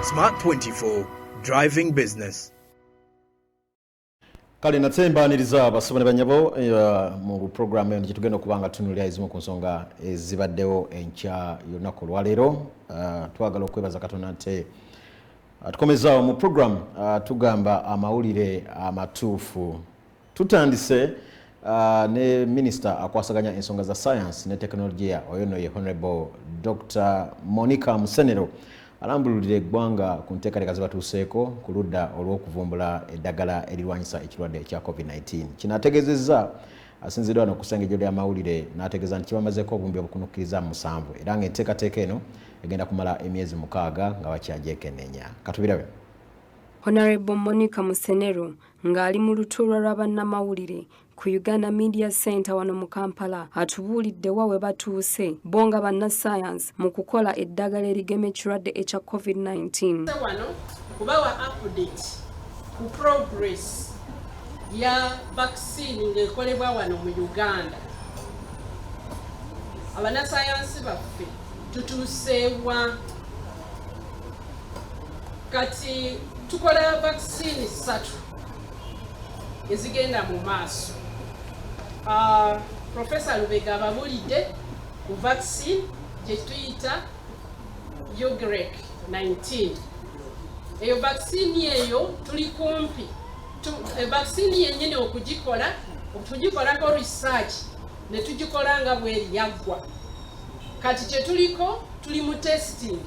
Smart 24 Driving Business. kale nate mbaniriza abasoma ne banyabo eh, mu programu eno gyetugenda okuba nga tunulira ezimu ku nsonga ezibaddewo enkya yolunaku olwaleero eh, twagala okwebaza katonda nte atukomezaawo mu programu eh, tugamba amawulire amatuufu Tutandise uh, ne minisita akwasaganya ensonga za sayansi ne tekinologiya oyo no ye honorable Dr Monica Musenero alambululira eggwanga ku nteekateeka ze batuuseeko ku ludda olw'okuvumbula eddagala erirwanyisa ekirwadde ekya covid-19 kino ategeezezza asinzidwa no kusengejjo lya mawulire n'ategeeza nti kibamazeeko obumbi obukunukkiriza mu musanvu era ng'enteekateeka eno egenda kumala emyezi mukaaga nga bakyajekenenya katubirabe Honorable Monica Musenero ng'ali mu lutuula lwa bannamawulire ku Uganda Media Center wano mu Kampala atubuulidde wa we batuuse bo nga bannassaayansi mu kukola eddagala erigema ekirwadde ekya COVID-19 wano kubawa update ku progress ya vaccine ng'ekolebwa wano mu Uganda abanasayansi baffe tutuuseewa kati tukola vaccine satu ezigenda mu maaso ah, profesa lubega ababulidde ku vaccine gyetuyita ugrek 19 eyo vaccine eyo tuli kumpi eh, vaccine yenyini okugikola tugikolako research ne tugikola nga bweri yaggwa kati kyetuliko Tuli mu testing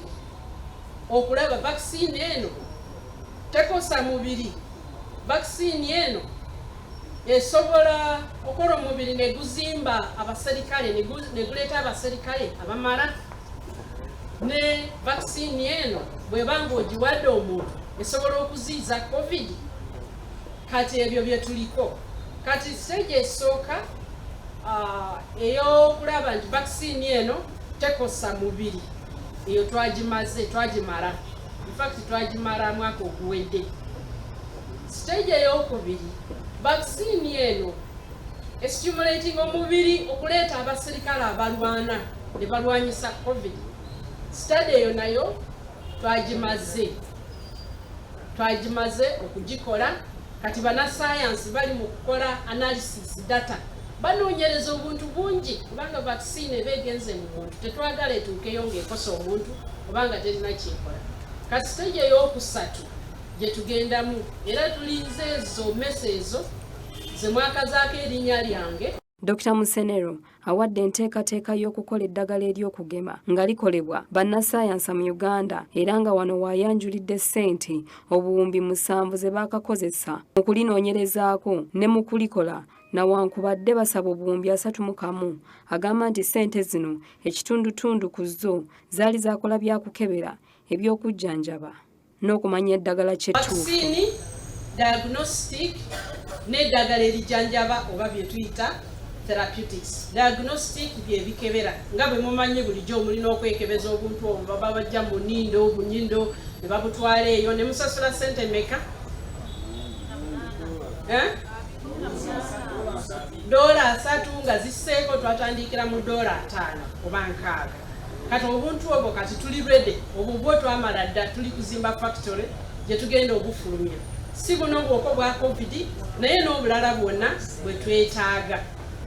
okulaba vaccine eno tekosa mubiri, vaccine eno esobola okola omubiri neguzimba abaserikale neguleeta abaserikale abamala ne vaccine eno bweba nga ogiwadde omuntu esobola okuziiza covid kati ebyo byetuliko kati stage esooka uh, eyokulaba nti vaccine eno tekosa mubiri eyo twagimaze twagimala infact twagimala mwaka oguwedde stage eyokubiri vaccine eno estimulating omubiri okuleeta abaserikale abalwana ne balwanyisa covid study eyo nayo twagimaze twagimaze okugikola Kati banasayansi bali mu kukola analysis data banoonyereza obuntu bungi kubanga vaccine eba egenze mu muntu tetwagala etuukeyo ng'ekosa omuntu obanga terina kyekola kati siteegi ey'okusatu gye tugendamu era tulinze ezo mesa ezo ze mwakazaako erinnya lyange Dr Musenero awadde enteekateeka y'okukola eddagala ery'okugema nga likolebwa bannasayansa mu Uganda era nga wano waayanjulidde ssente obuwumbi musanvu ze baakakozesa mu kulinoonyerezaako ne mu kulikola nawankubadde basaba obuwumbi asatu mu kamu agamba nti ssente zino ekitundutundu ku zo zaali zaakola byakukebera eby'okujjanjaba n'okumanya eddagala kyettuufu diagnostic n'eddagala erijanjaba oba byetuyita therapeutics diagnostic byebikebera nga bwe mumanyi bulijjo omulina okwekebeza obuntu obwo baba bajja mu nindo obunyindo ne babutwala eyo ne musasula sente meka eh? doola asatu nga ziseeko twatandikira mu doola ataano oba nkaaga kati obuntu obwo kati tuli rede obwo bwo twamala dda tuli kuzimba factory gye tugenda obufulumya si buno bwoko bwa covid naye n'obulala bwonna bwe twetaaga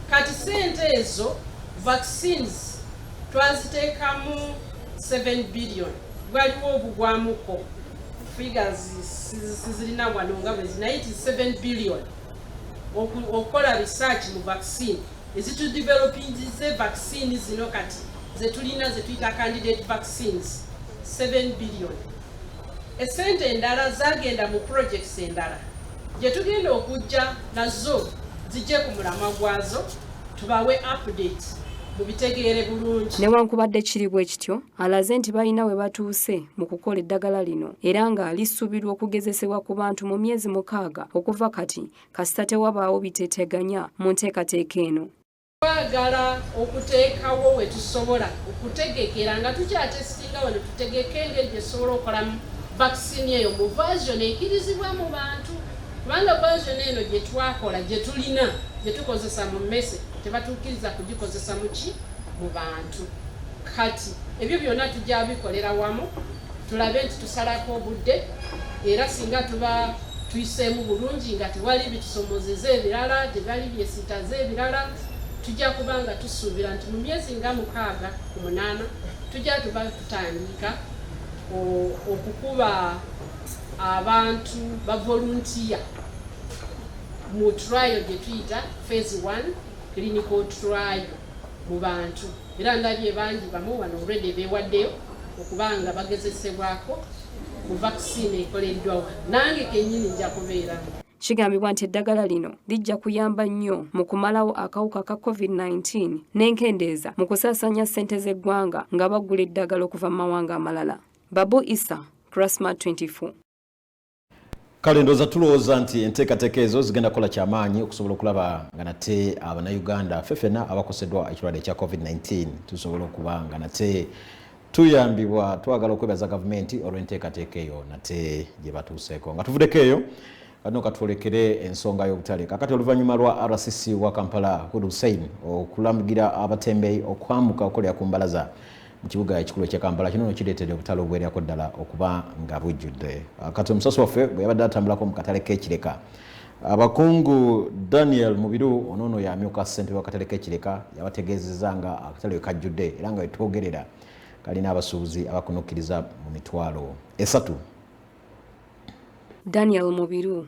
kati sente ezo vaccines twaziteekamu 7 billion gwaliwo obugwamuko figures sizirina wano nga bwezi naye ti 7 billion okukola research mu vaccine ezitudevelopinze vaccine zino kati zetulina zetuyita candidate vaccines 7 billion esente endala zagenda mu projects endala gyetugenda okujja nazo zijje ku mulamwa gwazo tubawe update mubitegeere bulungi newankubadde kiri bwe kityo alaze nti balina we batuuse mu kukola eddagala lino era nga lisuubirwa okugezesebwa ku bantu mu myezi mukaaga okuva kati kasita tewabaawo biteteganya mu nteekateeka eno. Twagala okuteekawo we tusobola okutegekera nga tukyatesitinga wano tutegeke engeri gye tusobola okukolamu vakisini eyo mu version ekirizibwa mu bantu kubanga version eno gye twakola gye tulina gye tukozesa mu mmese tebatuukiriza kugikozesa muki mu bantu kati ebyo byonna tujja bikolera wamu tulabe nti tusalako obudde era singa tuba tuyiseemu bulungi nga tewali bitusomozeza ebirala tebali byesitaze ebirala tujja kuba nga tusuubira nti mu myezi nga mukaaga ku munaana tujja tuba tutandika okukuba abantu bavoluntiya mu trial gye tuyita phase 1 clinical trial mu bantu era ndabye bangi bamu wano already bewaddeyo okubanga bagezesebwako ku vaccine ekoleddwa wano nange kenyini nja kubeeramu Kigambibwa nti eddagala lino lijja kuyamba nnyo mu kumalawo akawuka ka COVID-19 n'enkendeeza mu kusaasaanya ssente z'eggwanga nga baggula eddagala okuva mu mawanga amalala. Babu Isa, Krasma 24. kale ndooza tulowooza nti enteekateeka ezo zigenda kukola kyamaanyi okusobola okulaba nga nate abanauganda ffe fena abakoseddwa ekirwadde ekya covid-19 tusobola okuba nga nate tuyambibwa twagala okwebaza gavumenti olw'enteekateeka eyo nate gye batuuseeko nga tuvuddeko eyo kano katwolekere ensonga y'obutale kakati oluvannyuma lwa rcc wa kampala hud hussein okulamugira abatembeyi okwamuka okolera ku mbalaza mu kibuga ekikulu ekya kampala kino no kireetedde obutale obuwererako ddala okuba nga bujjudde ah, kati omusasi waffe bwe yabadde atambulako mu katale k'ekireka abakungu daniel mubiru onoono yamyuka ssentebe wakatale k'ekireka yabategeezeza nga akatale wekajjudde era nga wetwogerera kalina abasuubuzi abakunukkiriza mu mitwalo esatu daniel mubiru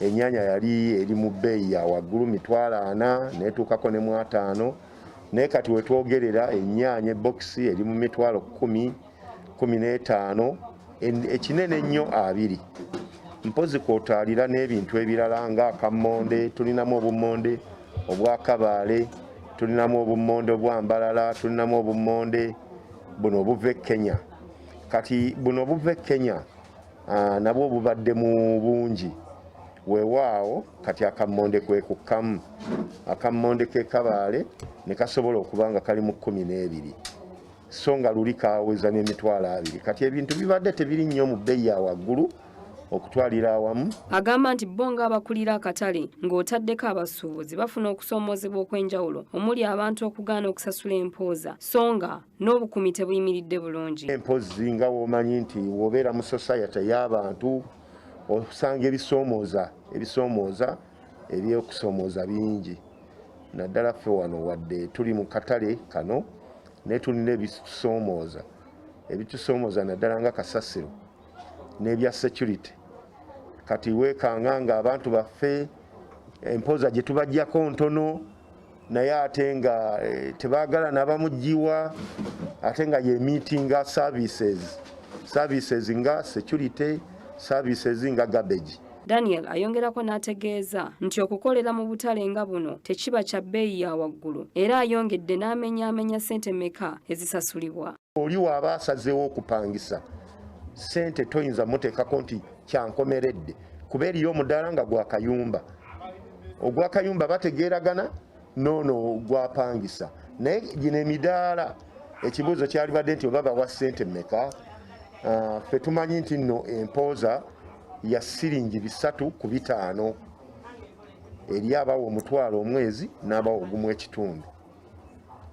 Ennyanya yali eri mu bbeeyi ya waggulu mitwalo ana neetuukako ne mu ataano naye kati wetwogerera ennyanya ebbokisi eri mu mitwalo kumi kumi n'etaano ekinene ennyo abiri mpozi kwotaalira n'ebintu ebirala nga akammonde tulinamu obummonde obwakabaale tulinamu obummonde obwambalala tulinamu obummonde buno obuva e kenya kati buno obuva e kenya ah, nabwo bubadde mu bungi weewaawo kati akammonde kwe kukkamu akammonde ke kabaale ne kasobola okuba nga kali mu kkumi n'ebiri so nga luli kaweza n'emitwalo abiri kati ebintu bibadde tebiri nnyo mu bbeyi ya waggulu okutwalira awamu agamba nti bo ng'abakulira akatale ng'otaddeko abasuubuzi bafuna okusoomoozebwa okw'enjawulo omuli abantu okugaana okusasula empooza so nga n'obukumi tebuyimiridde bulungi empozzi nga womanyi nti wobeera mu society y'abantu osanga ebisoomooza ebisoomooza ebyokusoomooza bingi naddala ffe wano wadde tuli mu katale kano naye tulina ebitusoomooza ebitusoomooza naddala nga kasasiro n'ebya security kati weekanga nga abantu baffe empoza gye tubajjako ntono naye ate nga eh, tebagala nabamugiwa ate nga ye meetinga services services nga security services nga garbage Daniel ayongerako n'ategeeza nti okukolera mu butale nga buno tekiba kya bbeeyi ya waggulu era ayongedde n'amenyaamenya ssente meka ezisasulibwa oli waaba asazeewo okupangisa sente toyinza muteekako nti kyankomeredde kuba eriyo omudaala nga gwakayumba ogwakayumba bategeeragana noono gwapangisa naye gino emidaala ekibuuzo kyalibadde nti oba bawa sente meka ah, fe tumanyi nti nno empooza ya siringi bisatu ku bitaano eri abawa omutwalo omwezi n'abawa ogumu ekitundu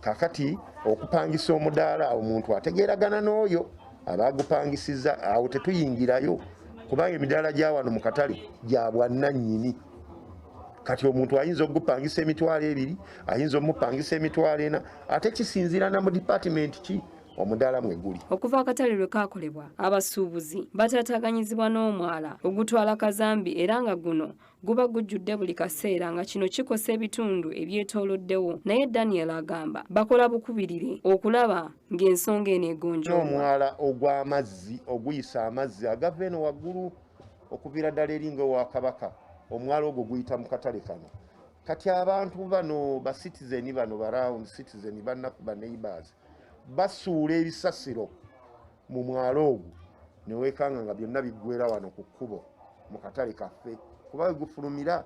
kakati okupangisa omudaala omuntu ategeeragana n'oyo aba agupangisiza awo tetuyingirayo kubanga emidaala gya wano mu katale gya bwannannyini kati omuntu ayinza okugupangisa emitwalo ebiri ayinza omupangisa emitwalo ena ate kisinziira na mu dipatimenti ki omudaala mwe guli okuva akatale lwe kaakolebwa abasuubuzi bataataganyizibwa n'omwala ogutwala kazambi era nga guno guba gujjudde buli kaseera nga kino kikosa ebitundu ebyetooloddewo naye daniel agamba bakola bukubirire okulaba ng'ensonga eno egonjoa omwala ogw'amazzi oguyisa amazzi agava eno waggulu okuviira ddala eringa ewa kabaka omwala ogwo guyita mu katale kano kati abantu bano ba citizen bano ba round citizen banaku ba neighbors basuula ebisasiro mu mwalo ogwo ne weekanga nga byonna biggwera wano ku kkubo mu katale kaffe kuba we gufulumira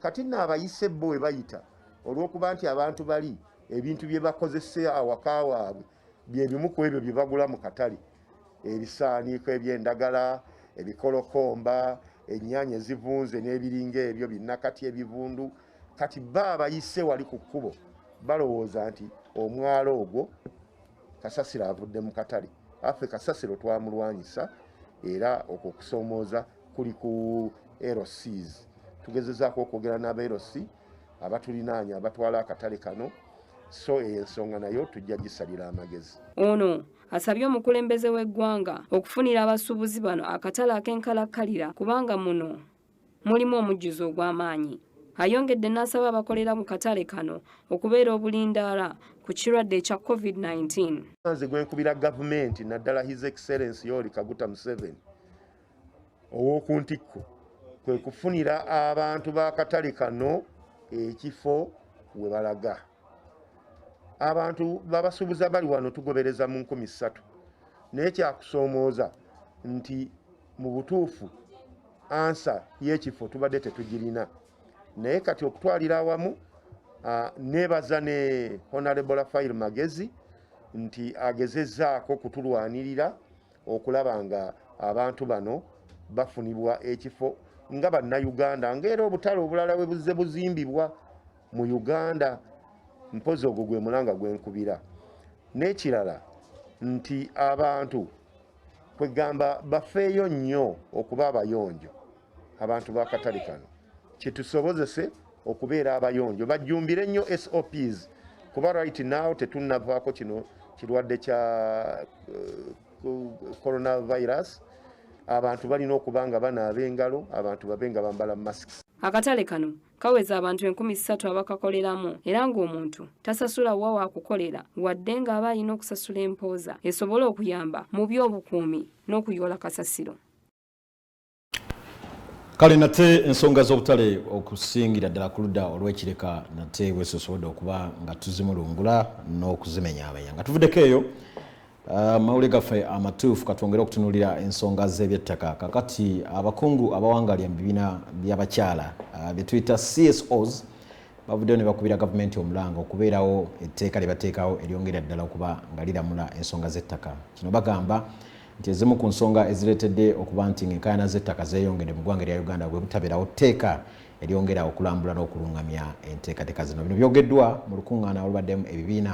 kati nno abayise bo we bayita olw'okuba nti abantu bali ebintu bye bakozesa awaka waabwe bye bimu ku ebyo bye bagula mu katale ebisaaniiko eby'endagala ebikolokomba ennyaanya ezivunze n'ebiringa ebyo binnakati ebivundu kati ba abayise wali ku kkubo balowooza nti omwalo ogwo Kasasiro avudde mu katale affe Kasasiro twamulwanyisa era okwo kusomooza kuli ku LCs tugezezaako okwogera n'aba LC abatulinaanya abatwala akatale kano so eyo ensonga nayo tujja gisalira amagezi ono asabye omukulembeze w'eggwanga okufunira abasuubuzi bano akatale ak'enkalakkalira kubanga muno mulimu omujjuzo ogw'amaanyi. Ayongedde n'asaba abakolera mu katale kano okubeera obulindaala ku kirwadde ekya COVID-19. Nze gwenkubira gavumenti naddala His Excellence Yoweri Kaguta Museveni ow'oku ntikko kwe kufunira abantu b'akatale kano ekifo we balaga. Abantu babasuubuza bali wano tugobereza mu nkumi ssatu naye kyakusoomooza nti mu butuufu ansa yekifo tubadde tetugirina naye kati okutwalira awamu nebaza ne honorable rafail magezi nti agezezaako kutulwanirira okulaba nga abantu bano bafunibwa ekifo nga bannayuganda ngaera obutale obulala webuzze buzimbibwa mu uganda mpozi ogwo gwe mulanga gwenkubira n'ekirala nti abantu kwegamba bafeeyo nnyo okuba abayonjo abantu bakatale kano kitusobozese okubeera abayonjo bajjumbire nnyo SOPs kuba right now tetunnavaako kino kirwadde kya uh, coronavirus abantu balina okuba nga banaaba engalo abantu babe nga bambala masks akatale kano kaweza abantu enkumi ssatu abakakoleramu era ng'omuntu tasasula wa waakukolera wadde ng'aba alina okusasula empooza esobola okuyamba mu by'obukuumi n'okuyoola kasasiro kale nate ensonga z'obutale okusingira ddala ku ludda olw'ekireka nate bwesosobodde okuba nga tuzimulungula n'okuzimenyaamenya nga tuvuddeko eyo Uh, mawulire gaffe amatuufu katwongere okutunulira ensonga z'ebyettaka kakati abakungu uh, abawangalya mu bibiina by'abakyala uh, bye tuyita csos bavuddeyo ne bakubira gavumenti omulanga okubeerawo etteeka lye bateekawo eryongera ddala okuba nga liramula ensonga z'ettaka kino bagamba nti ezimu ku nsonga ezireetedde okuba nti ng'enkaayana z'ettaka zeeyongedde mu ggwanga erya uganda bwe butabeerawo tteeka eryongera okulambula n'okulungamya enteekateeka zino bino byogeddwa mu lukuŋŋaana olubaddemu ebibiina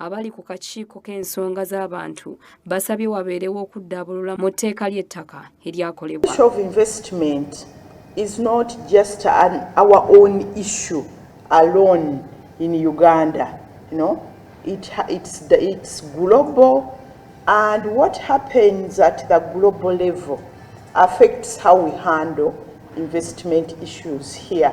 Abali ku kakiiko k'ensonga z'abantu basabye wabeerewo okuddaabulula mu tteeka ly'ettaka eryakolebwa. of investment is not just an our own issue alone in Uganda. You know, it, it's, the, it's global and what happens at the global level affects how we handle investment issues here.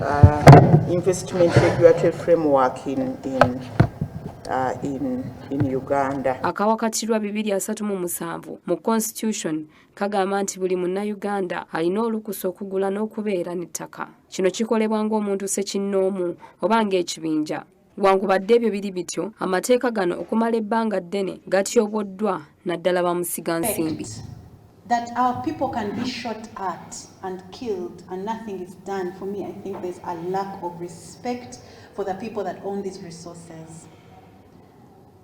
Uh, investment regulatory framework in, in Uh, in, in Uganda. Akawakatirwa 237 mu constitution kagamba nti buli munnayuganda alina olukusa okugula n'okubeera n'ettaka. Kino kikolebwa ng'omuntu sekinnoomu oba ng'ekibinja. Wankubadde ebyo biri bityo, amateeka gano okumala ebbanga ddene gatyoboddwa naddala bamusiga nsimbi. That our people can be shot at and killed and nothing is done. For me, I think there's a lack of respect for the people that own these resources.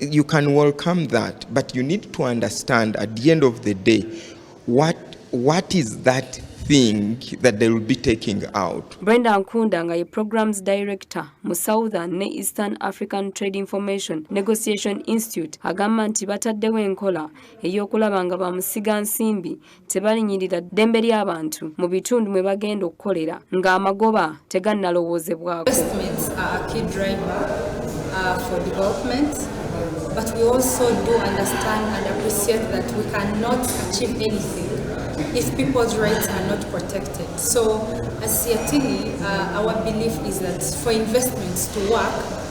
You can welcome that, but you need to understand at the end of the day what what is that thing that they will be taking out. Brenda Nkunda nga ye programs director mu Southern ne Eastern African Trade Information Negotiation Institute agamba nti bataddewo enkola ey'okulaba nga bamusiga nsimbi tebalinyirira ddembe ly'abantu mu bitundu mwe bagenda okukolera ng'amagoba tegannalowoozebwako But we also do understand and appreciate that we cannot achieve anything if people's rights are not protected. So, as Siatini, uh, our belief is that for investments to work,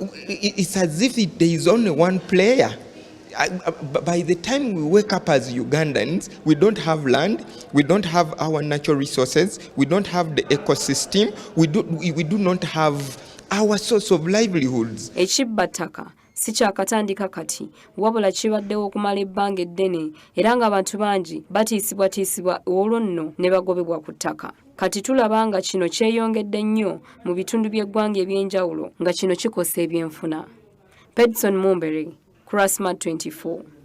It's as if it, there is only one player. I, uh, by the time we wake up as Ugandans, we don't have land, we don't have our natural resources, we don't have the ecosystem, we do, we, we do not have our source of livelihoods. Ekibataka si kyakatandika kati wabula kibaddewo okumala ebbanga eddene era ng'abantu bangi batiisibwatiisibwa olwo nno ne bagobebwa ku ttaka Kati tulaba nga kino kyeyongedde nnyo mu bitundu by'eggwanga eby'enjawulo nga kino kikosa ebyenfuna. Pedson Mumbere, Kurasma 24.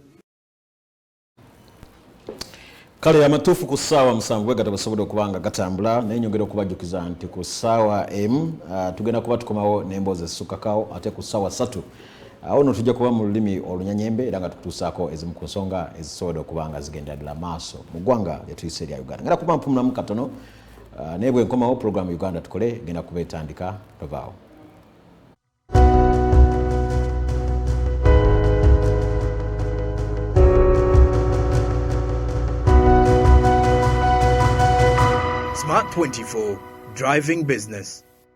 kale amatuufu ku ssaawa musanvu bwe gatabasobodde okuba nga gatambula naye nyongera okubajjukiza nti ku ssaawa emu ah, tugenda kuba tukomawo n'emboozi ezisukkakawo ate ku ssaawa ssatu awo no tujja kuba mu lulimi olunyanyembe era nga tukutuusaako ezimu ku nsonga ezisobodde okuba nga zigendera ddala maaso mu ggwanga lyetuyise erya uganda ngera kuba mpumulamu katono uh, naye bwe nkomawo pulogulaamu uganda tukole genda kuba etandika tovaawo Smart 24 Driving Business